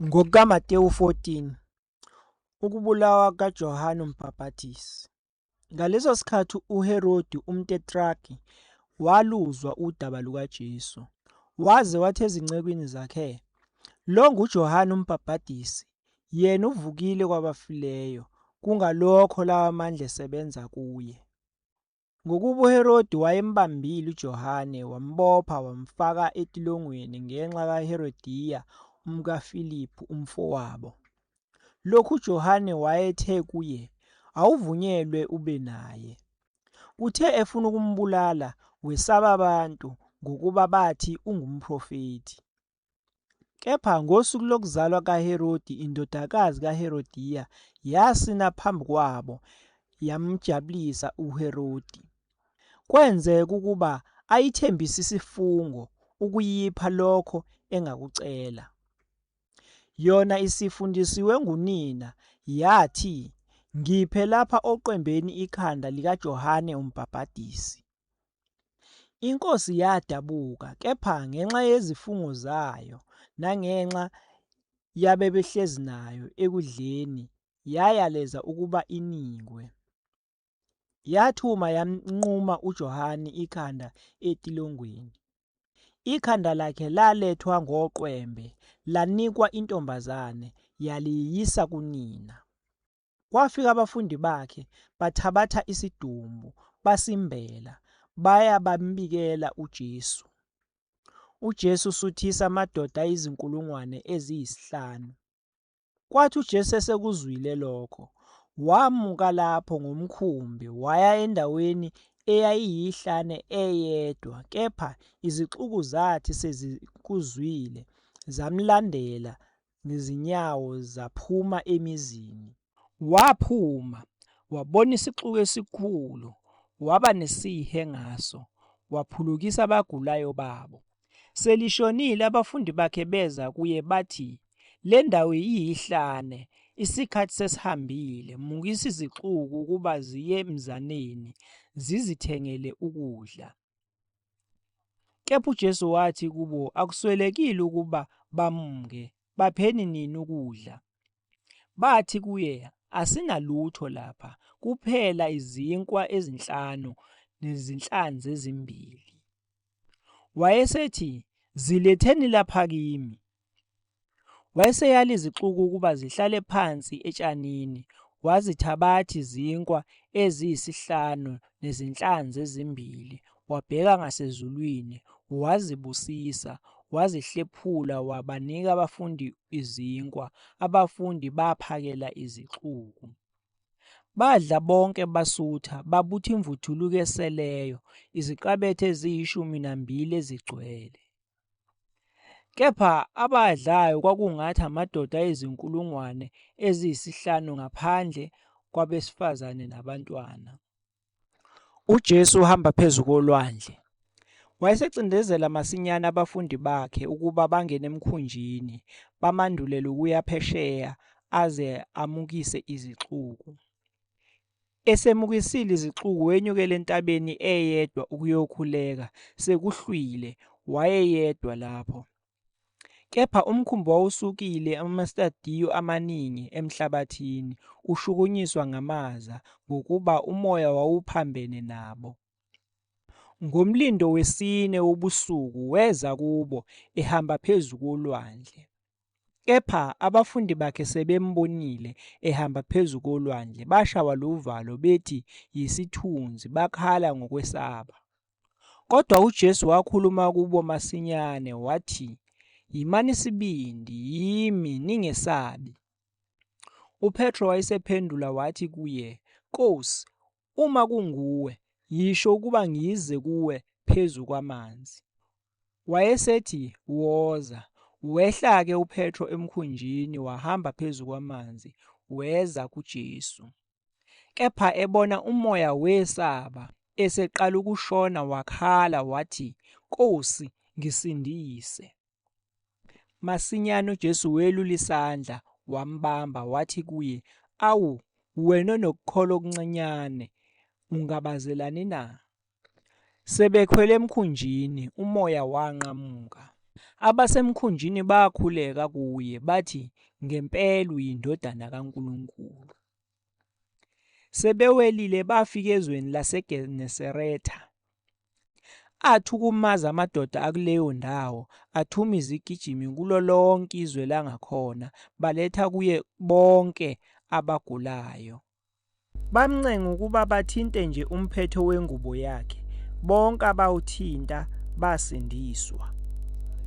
NgokukaMatewu 14, ukubulawa kukaJohane uMbhapathizi. Ngaleso sikhathi uHerodi umtetraki waluzwa udaba lukaJesu, waze wathi ezincekwini zakhe, Lo nguJohane uMbhapathizi, yena uvukile kwabafileyo, kungalokho lawa mandla esebenza kuye. Ngokuba uHerodi wayembambile uJohane, wambopha, wamfaka etilongweni ngenxa kaHerodiya umkaFiliphu umfowabo. Lokhu uJohane wayethe kuye, Awuvunyelwe ube naye. Kuthe efuna ukumbulala, wesaba abantu ngokuba bathi ungumprofethi. Kepha ngosuku lokuzalwa kaHerodi indodakazi kaHerodiya yasina phambi kwabo yamjabulisa uHerodi. Kwenzeka ukuba ayithembise isifungo ukuyipha lokho engakucela. Yona isifundisiwe ngunina yathi, Ngiphe lapha oqembeni ikhanda likaJohane uMbhabhadisi. Inkosi yadabuka kepha ngenxa yezifungo zayo nangenxa yabebehlezi nayo ekudleni yayaleza ukuba inikwe. Yathuma yamnquma uJohane ikhanda etilongweni. Ikhanda lakhe lalethwa ngoqwembe lanikwa intombazane yaliyisa kunina. Kwafika abafundi bakhe bathabatha isidumbu basimbela baya bambikela uJesu. UJesu usuthisa amadoda ayizinkulungwane eziyisihlanu. Kwathi uJesu esekuzwile lokho, wamuka lapho ngomkhumbi waya endaweni eyayiyihlane eyedwa, kepha izixuku zathi sezikuzwile zamlandela ngezinyawo zaphuma emizini. Waphuma, wabona isixuku esikhulu, waba nesihe ngaso, waphulukisa abagulayo babo. Selishonile abafundi bakhe beza kuye bathi, Le ndawo iyihlane, isikhathi sesihambile, mukisa izixuku ukuba ziye emzaneni, zizithengele ukudla. Kepha uJesu wathi kubo, Akuswelekile ukuba bamke, bapheni nini ukudla. Bathi kuye, Asinalutho lapha, kuphela izinkwa ezinhlanu nezinhlanzi ezimbili. Wayesethi, Ziletheni lapha kimi. Wayeseyala izixuku ukuba zihlale phansi etshanini, wazithabathi zinkwa eziyisihlanu nezinhlanzi ezimbili, wabheka ngasezulwini, wazibusisa, wazihlephula wabanika abafundi izinkwa, abafundi baphakela izixuku. Badla bonke basutha, babutha imvuthuluka eseleyo, iziqabethe eziyishumi nambili ezigcwele. Kepha abadlayo kwakungathi amadoda ayizinkulungwane eziyisihlanu ngaphandle kwabesifazane nabantwana. UJesu uhamba phezu kolwandle. Wayesecindezela masinyane abafundi bakhe ukuba bangene emkhunjini, bamandulele ukuya phesheya aze amukise izixuku. Esemukisile izixuku wenyukela entabeni eyedwa ukuyokhuleka, sekuhlwile, wayeyedwa lapho. Kepha umkhumbi wawusukile amastadiyo amaningi emhlabathini, ushukunyiswa ngamaza, ngokuba umoya wawuphambene nabo. Ngomlindo wesine wobusuku weza kubo, ehamba phezu kolwandle. Kepha abafundi bakhe sebembonile ehamba phezu kolwandle, bashawa luvalo bethi yisithunzi, bakhala ngokwesaba. Kodwa uJesu wakhuluma kubo masinyane wathi, Yimani isibindi, yimi, ningesabi. UPetro wayesephendula wathi kuye, Nkosi, Uma kunguwe, yisho ukuba ngize kuwe phezu kwamanzi. Wayesethi, Woza. Wehla-ke uPetro emkhunjini wahamba phezu kwamanzi, weza kuJesu. Kepha ebona umoya wesaba, eseqala ukushona wakhala wathi, Nkosi, ngisindise. Masinyane uJesu welula isandla, wambamba, wathi kuye, Awu, wena onokukholwa okuncinyane, ungabazelani na? Sebekhwele emkhunjini, umoya wanqamuka. Abasemkhunjini bakhuleka kuye, bathi, Ngempela uyindodana kaNkulunkulu. Sebewelile bafika ezweni laseGenesaretha. Athukumaza amadoda akuleyo ndawo, athuma izigijimi kulo lonke izwe langakhona, baletha kuye bonke abagulayo. Bamncenga ukuba bathinte nje umphetho wengubo yakhe, bonke abawuthinta basindiswa.